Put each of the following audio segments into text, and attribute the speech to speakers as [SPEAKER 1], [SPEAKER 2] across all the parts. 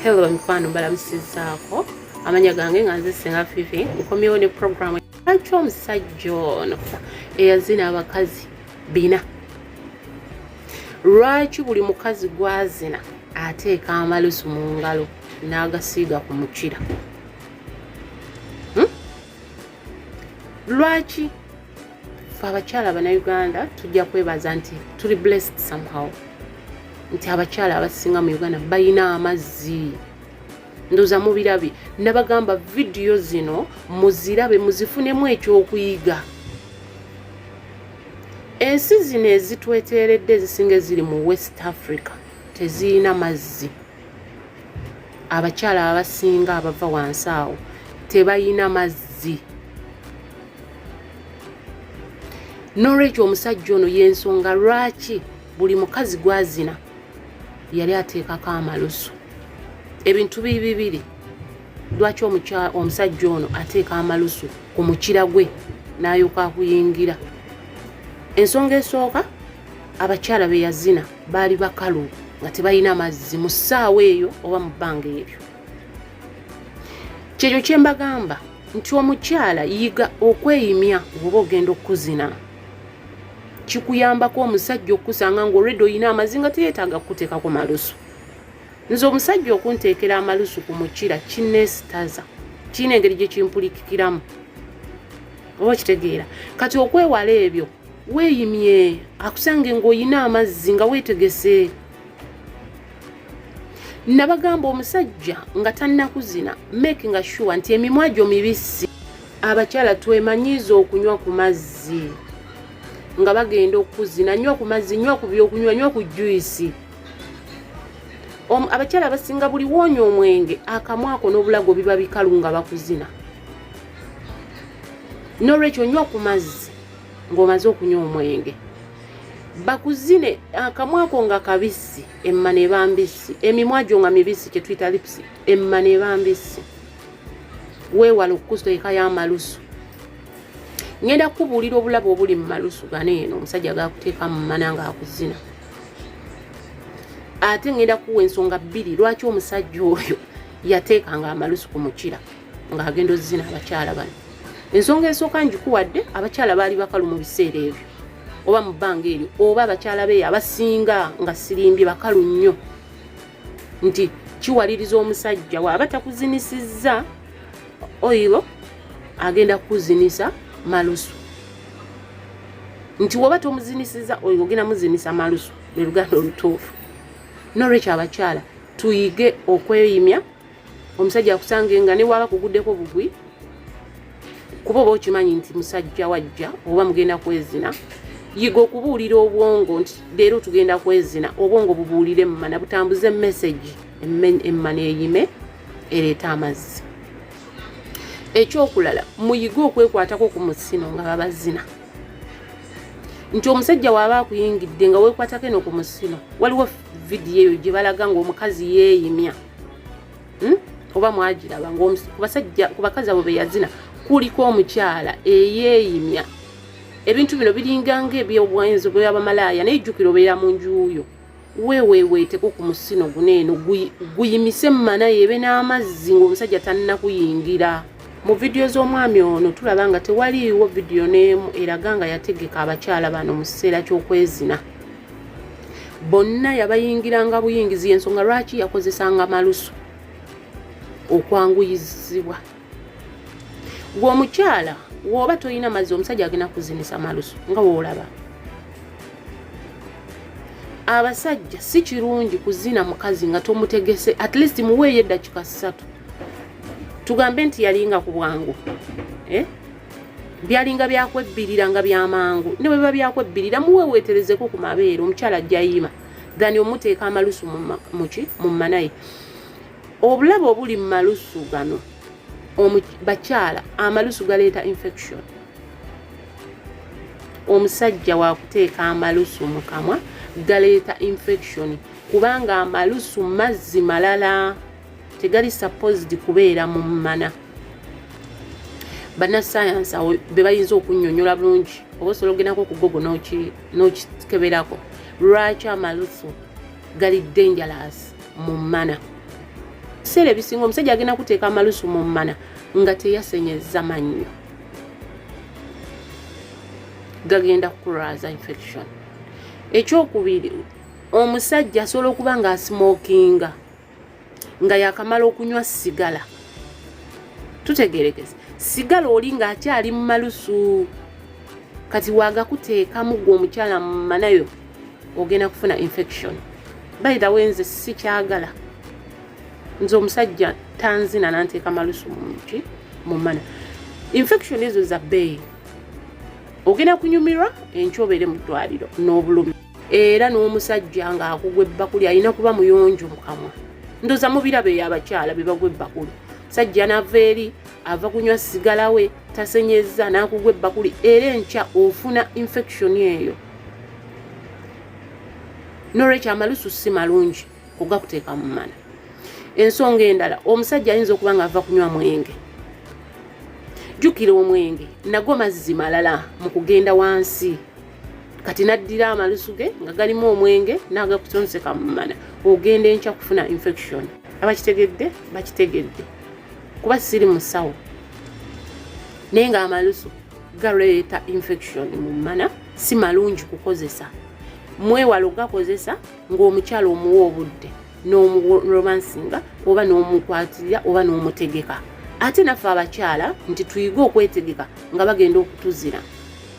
[SPEAKER 1] hello mikwano mbalamusizaako amanya gange nga nze singa fifi nkomyewo ne programu lwaki omusajja ono eyazina abakazi bina lwaki buli mukazi gwazina ateeka amalusu mu ngalo n'agasiiga ku mukira lwaki fe abakyala banauganda tujja kwebaza nti tuli blessed somehow nti abakyala abasinga mu uganda balina amazzi ndoza mubirabi nabagamba vidiyo zino muzirabe muzifunemu ekyokuyiga ensi zino ezitweteeredde ezisinga eziri mu west africa tezirina mazzi abakyala abasinga abava wansi awo tebalina mazzi n'olwekyo omusajja ono y'ensonga lwaki buli mukazi gwazina yali ateekako amalusu ebintu biri bibiri lwaki omusajja ono ateeka amalusu ku mukira gwe n'ayoka akuyingira ensonga esooka abakyala be yazina baali bakalu nga tebalina mazzi mu ssaawa eyo oba mu bbanga eryo kyekyo kye mbagamba nti omukyala yiga okweyimya oba ogenda okukuzina kikuyambako omusajja okukusanga nga olwedde olina amazi nga teyetaaga kukuteekako malusu nze omusajja okunteekera amalusu ku mukira kinesitaza kirina engeri gye kimpulikikiramu oba okitegeera kati okwewala ebyo weeyimye akusange ng'olina amazzi nga weetegese nabagamba omusajja nga tannakuzina make nga shuwa nti emimwa gyo mibisi abakyala twemanyiiza okunywa ku mazzi nga bagenda okukuzina nywa ku mazzi nywa ku byokunywa nywa ku juisi abakyala abasinga buli woonya omwenge akamwako n'obulago biba bikalu nga bakuzina n'olwekyo nywa ku mazzi ng'omaze okunywa omwenge bakuzine akamwako nga kabisi emma neba mbisi emimwa gyo nga mibisi kyetuyita lipsi emma neba mbisi weewala okukusa eka y'amalusu ngenda kukubuulira obulabe obuli mu malusu gano eno omusajja gakuteeka mu mana nga akuzina ate ngenda kuwa ensonga bbiri lwaki omusajja oyo yateekanga amalusu ku mukira ng'agenda ozina abakyala bano ensonga esooka ngikuwadde abakyala baali bakalu mu biseera ebyo oba mu bbanga eryo oba abakyala beyo abasinga nga sirimbye bakalu nnyo nti kiwaliriza omusajja waaba takuzinisizza oyiro agenda kukuzinisa malusu nti woba tomuzinisiza oyo ogenda muzinisa malusu lwe luganda olutuufu nolwekyo abakyala tuyige okweyimya omusajja akusange nga ne waba kuguddeko bugwi kuba oba okimanyi nti musajja wajja oba mugenda kwezina yiga okubuulira obwongo nti leero tugenda kwezina obwongo bubuulire emmana butambuze emesegi emmana eyime ereeta amazzi ekyokulala muyige okwekwatako ku musino nga babazina nti omusajja waaba akuyingidde nga wekwatako eno ku musino waliwo vidiyo eyo gye balaga ngaomukazi yeeyimya hmm? oba mwagiraba kubasajja ku bakazi abo beyazina kuliko omukyala eyeeyimya ebintu bino biringa ngaebyobwenzi bweyabamalaaya naye jjukira obeera mu njuuyo weweweeteko ku musino guno eno guyimise mumana yebe n'amazzi ng'omusajja tannakuyingira mu vidiyo z'omwami ono tulaba nga tewaliiwo vidiyo n'emu eraga nga yategeka abakyala bano mu kiseera ky'okwezina bonna yabayingiranga buyingizi yensonga lwaki yakozesanga malusu okwanguyizibwa gwe omukyala woba tolina mazzi omusajja agenda kuzinisa malusu nga woolaba abasajja si kirungi kuzina mukazi nga tomutegese at least muweeyo eddakika ssatu tugambe nti yalinga ku bwangu eh? byalinga byakwebbirira nga byamangu ne bwebiba byakwebbirira muweweeterezeko ku mabeere omukyala ajjayiima thani omuteeka amalusu muki mu manaye obulabe obuli mu malusu gano bakyala amalusu galeeta infection omusajja wakuteeka amalusu mu kamwa galeeta infection kubanga amalusu mazzi malala tegali supposed kubeera mu mmana banasayansi awo bebayinza okunyonyola bulungi oba osobola okugendako okugogo n'okikeberako lwaki amalusu gali dangerous mu mmana ebiseera ebisinga omusajja agenda kuteeka amalusu mu mmana nga teyasenyeza mannyo gagenda kukulwaza infection ekyokubiri omusajja asobola okuba nga asmokinga nga yakamala okunywa sigala tutegerekese sigala oli nga akyali mu malusu kati wagakuteekamu gwe omukyala mumanayo ogenda kufuna infection by the way nze sikyagala nze omusajja tanzina nanteeka malusu muki mumana infection ezo za bbeeyi ogenda kunyumirwa enkyobeere mu ddwaliro n'obulumi era n'omusajja ng'akugwa ebbakuli alina kuba muyonjo mu kamwa ndoza mubirabo eyo abakyala be bagwa ebbakuli musajja n'ava eri ava kunywa sigala we tasenyezza n'akugwa ebbakuli era enkya ofuna infection eyo nolwekyo amalusu si malungi kugakuteeka mu mana ensonga endala omusajja ayinza okuba nga ava kunywa mwenge jjukira omwenge nago mazzi malala mu kugenda wansi kati naddira amalusu ge nga galimu omwenge n'agakutonzeka mu mana ogenda enkya kufuna infection abakitegedde bakitegedde kuba siri musawo naye nga amalusu galeeta infection mu mana si malungi kukozesa mwewalo gakozesa ng'omukyala omuwa obudde n'omuromansinga oba n'omukwatirira oba n'omutegeka ate naffe abakyala nti tuyige okwetegeka nga bagenda okutuzira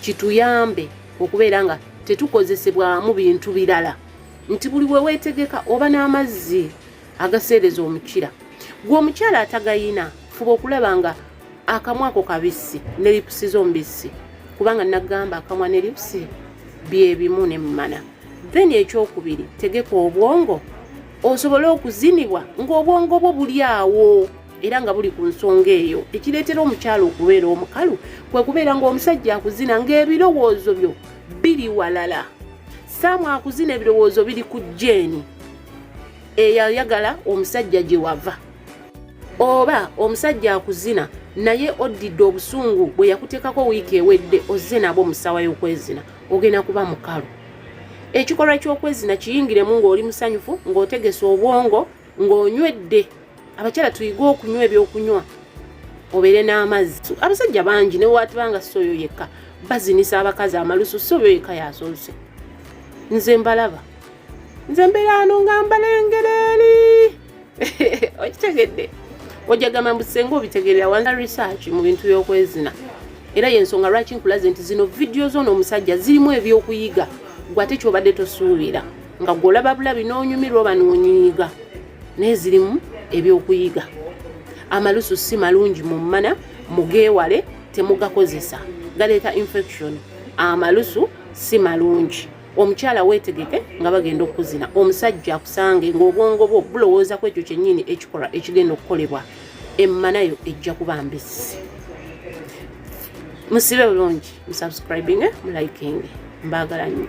[SPEAKER 1] kituyambe okubeera nga tetukozesebwamu bintu birala nti buli we weetegeka oba n'amazzi agaseereza omukira gwe omukyala atagayina fuba okulaba nga akamwako kabisi ne lipusi z'omubisi kubanga nagamba akamwa ne lipusi byebimu ne mumana then ekyokubiri tegeka obwongo osobole okuzinibwa ng'obwongo bwo buli awo era nga buli ku nsonga eyo ekireetera omukyala okubeera omukalu kwe kubeera ng'omusajja akuzina ng'ebirowoozo byo biri walala saamu akuzina ebirowoozo biri ku jeeni eyayagala omusajja gye wava oba omusajja akuzina naye oddidde obusungu bwe yakuteekako wiiki ewedde ozze nabo musawa y'okwezina ogenda kuba mukalu ekikolwa ky'okwezina kiyingiremu ng'oli musanyufu ng'otegese obwongo ng'onywedde abakyala tuyige okunywa ebyokunywa obeere n'amazzi abasajja bangi newatibanga si oyo yekka bazinisa abakazi amalusu si oyo yekka yasoose nze mbalaba nze mberaano nga mbalengera eri okitegedde ojagamba mbu senga obitegerera wanza research mu bintu byokwezina era yensonga lwaki nkulaze nti zino vidiyo zona omusajja zirimu ebyokuyiga gwe ate kyobadde tosuubira nga gwolaba bulabi n'onyumirwa oba nonyiiga naye zirimu ebyokuyiga amalusu si malungi mu mmana mugeewale temugakozesa galeeta infection amalusu si malungi omukyala weetegeke nga bagenda okukuzina omusajja akusange ng'obwongo bwo bulowooza ku ekyo kyennyini ekikola ekigenda okukolebwa emmanayo ejja kuba mbisi musibe bulungi musubscribinge mulayikinge mbaagala nnyo